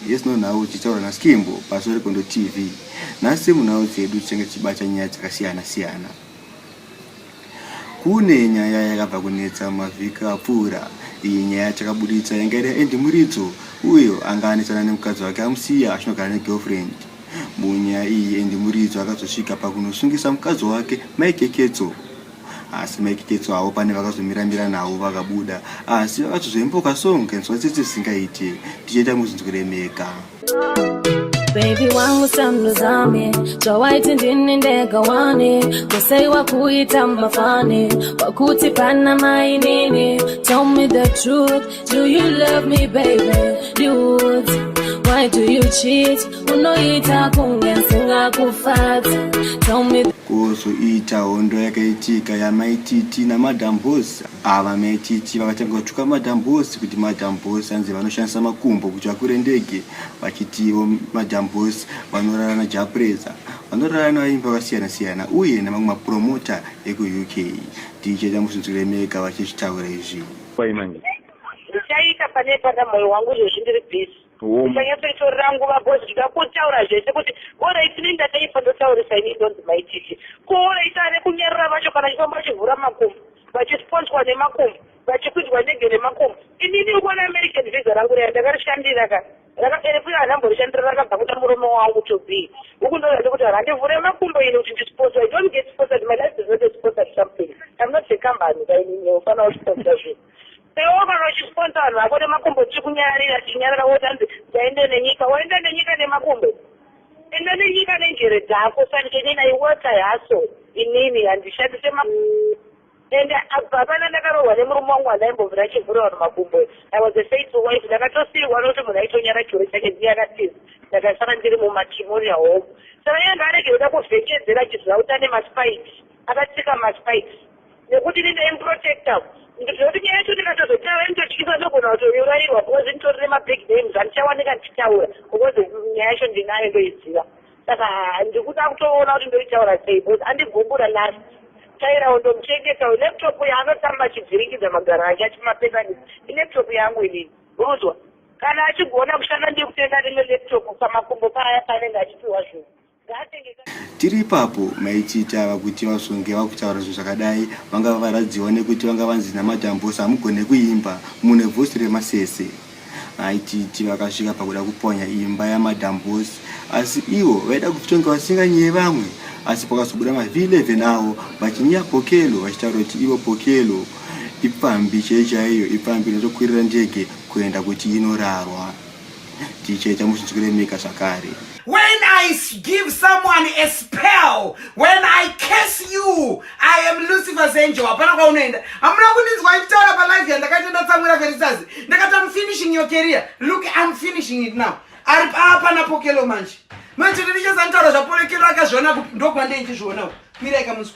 yes no nhau tichitaura naskimbo pazuva rekondo tv nhasi munhau dzedu tichange tichibata nyaya dzakasiyana siyana kune nyaya yakabva kunetsa mavhiki apfuura iyi nyaya yatakaburitsa yanga iri yaendi muridzo uyo anga anetsana nemukadzi wake amusiya achinogara negirlfriend Munyaya iyi Andy Muridzo akazosvika pakunosungisa mukadzi wake Mai Keketso asi Mai Keketso havo pane vakazomiramira navo vakabuda asi vakazozoimboka song kanzwa tsitsi zvisingaite tichaita muzinzwire mega Baby wangu samnuzame zvawaiti ndini ndega wani kusei wakuita mafani wakuti pana mainini tell me the truth Do you love me baby? Dudes, why do you cheat? Unoita kunge ndisingakufadzi. Tell me kuzoita hondo yakaitika yamaititi namadam boss ava ah, maititi vakatanga kutuka madam boss kuti madam boss anzi vanoshandisa makumbo kuti vakure ndege vachitivo madam boss vanorara najapreza vanorara navaimbi vakasiyana siyana uye nemamwe mapromota ekuuk ticheta musunzuremeka vachizvitaura izvi Kwai manje. Ndichaita pane pana moyo wangu izvozvi ndiri busy. Ndichanyatsoitorera nguva because ndida kutaura zvese kuti orai tine ndataipa ndotaurisa ini ndonzi mai titi. Ko orai tane kunyarara vacho kana chifamba vachivhura makumbo vachisponswa nemakumbo vachikwidzwa ndege nemakumbo. Inini uko neamerican visa rangu raya ndakarishandira ka. Rakaberekwa iye handamborishandira rakabva kuda murume wawo kuTobii. Huku ndouya ndikuti handivhure makumbo ini kuti ndisponsor. I don't get sponsored. My life is not a sponsored something. I'm not a company ka inini ufana usponsor zvinhu. Iwewo kana uchisponsor vanhu vako nemakumbo tichikunyarira tichinyarira woti hanzi dzaende nenyika. Waenda nenyika nemakumbo? Enda nenyika nenjere dzako sani kenina iwota yaso inini handishandise makumbo. And apa hapana ndakarohwa nemurume wangu wandaimbovira achivhura vanhu makumbo I was a faithful wife ndakatosiirwa nokuti munhu aitonyara churu chake dziya akatiza ndakasara ndiri mumatrimonial home saka iye ngaarege kuda kuvhekedzera achiziva kuti ane maspikes akatsika maspikes nekuti ini ndaimprotecta ndikuziva kuti nyaya yacho ndikatozotaura nditotyisa ndogona kutourairwa because nditorine mabig names andichawanika ndichitaura because nyaya yacho ndinayo ndoiziva saka ndikuda kutoona kuti ndoitaura sei bcause andigumbura last tairawo ndomuchengetawo laptop yaanotamba achivhiringidza magaro ake achimapesanisa ilaptop yangu inini ruzwa kana achigona kushanda ndikutenga rimwe laptop pamakumbo paya paanenge achipiwa zvinhu tiri ipapo maichiita vakuti vasonge vakutaura zvinhu zvakadai vanga vavaradziwa nekuti vanga vanzi namadambosa hamugone kuimba mune vosi remasese aititi vakasvika pakuda kuponya imba yamadam bos asi ivo vaida kutonga vasinganyeye vamwe asi pakazobuda mavhi11 avo vachinyeya pokelo vachitaura kuti ivo pokelo ipfambi chei chaiyo ipfambi inotokwirira ndege kuenda kuti inorarwa tichaita muzvinzwiremeka zvakare When I give someone a spell, when I curse you, I am Lucifer's angel. Hapana kwaunoenda. Hamuna kundinzwa ichitaura pa live yandakaita ndatsamwira Felicitas. Ndakati I'm finishing your career. Look, I'm finishing it now. Ari papa na Pokelo manje. Manje ndichazanitaura zva Pokelo akazviona kupi ndokwa ndei ndizvionawo. Mira ikamunzwa.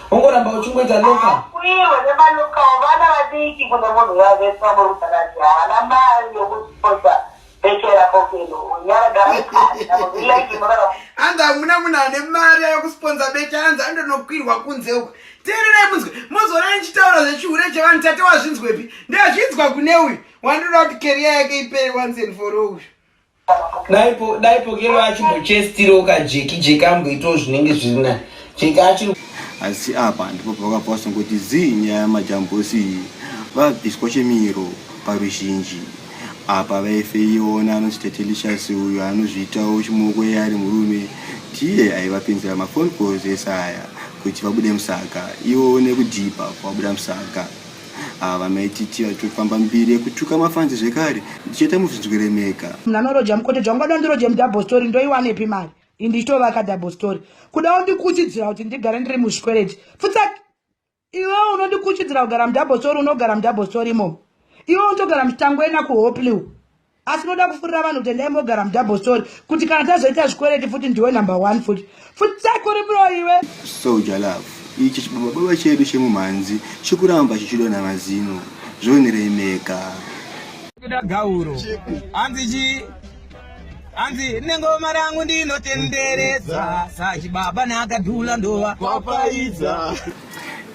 ongoramba uchingoita loka kwirwe nemalokawo vana vadiki kune munhu yavese vamurudzaradzi havana mari yokusiposa bekera pokeno unyaragaanzi hamuna munhu ane mari yokusiponza bete anzi andonokwirwa kunze uku teererai munzwe mozoona ndichitaura zvechihure chevanhu tate wazvinzwepi ndazvinzwa kune uyu wandoda kuti keriya yake ipere once and for all uyu dai pokero achimbochestirawo kajeki jeki amboitawo zvinenge zviri naye jeki achiri asi apa ndipo pavakabva vasongoti zii nyaya yamajambosi iyi vabviswa chemiro paruzhinji apa vaifeiona anonzi tetelicious uyo anozviitawo chimoko iye ari murume tiye aivapinzira mafoni calls ese aya kuti vabude musaka iwo nekudhipa kwabuda musaka ava vanoititira tofamba mbiri yekutuka mafanzi zvekare ndichiita muzvinzweremeka mnanoroja mukoteja ungada ndiroje mudouble story ndoiwanepi mari indichitovaka double story kudawo ndikuchidzira kuti ndigare ndiri muzvikwereti pfutsaki iwewo unondikuchidzira kugara mudouble story unogara mudouble story imomo iwewo unotogara mutangwena kuhopliw asi unoda kufurira vanhu kuti endai mogara mudouble story kuti kana tazoita zvikwereti futi ndiwe number one futi futi sakuri bro iwe soja love ichi chibabababa chedu chemumhanzi chikuramba chichidonha mazino zvonirei mega kuda gauro hanzi chii hanzi nengoma rangu ndinotenderesa sachibaba naakadhula ndova kwapaidza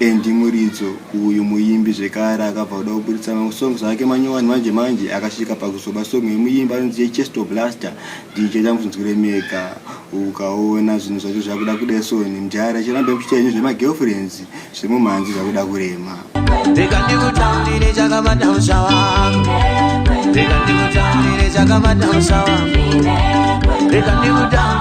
Andy Muridzo uyu muimbi zvekare akabva kuda kuburitsa mamwe songs ake manyowani manje manje akasvika pakuzoba song yemuimbi anonzi yechesto blaster ndicheda mutinzwire mega ukaona zvinhu zvacho zvakuda kudesoni mdyara chiramba ekuchita henyu zvemagirlfriends zvemumhanzi zvakuda kurema Reka ndikutambire chakabata musha wangu Reka ndikutambire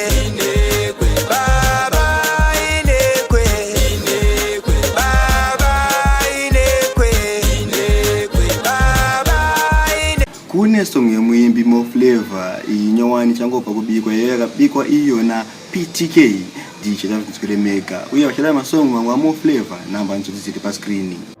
kune song yemuimbi moflavor iyi nyowani changobva kubikwa iyo yakabikwa iyona ptk ndichada kuti mega uye vachada masong mamwe amoflavor namba ndichoti dziri pascreening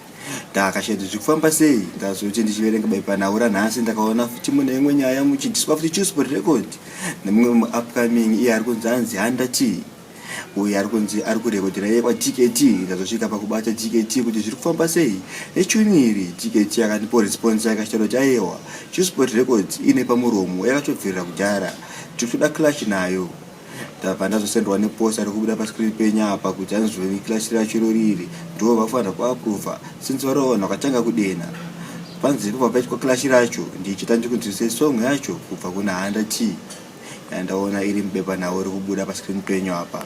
ndakashati zvikufamba sei ndazoti ndichiverenga baipanhaura nhasi ndakaona futi mune imwe nyaya muchidiswa futi chuspo record nemumwe muupcoming iye ari kunzi anzi handa tii uye ari kunzi ari kurekodhera iye kwatkt ndazosvika pakubata tkt kuti zviri kufamba sei nechuni iri tkt akandipo response yakashata kuti ayewa chusport records ine pamuromo yakatobvirira kudhara tiri kuda clash nayo ndabva ndazosendwa neposta rekubuda pascreen penyu apa kuti anzwe clash racho iroriri ndo vafanira kuaprova since vari vanhu vakatanga kudena panzi pabva paitwa clash racho ndichita ndikunzwisei song yacho kubva kuna handa t yandaona iri mubepa nhau rekubuda pascreen penyu apa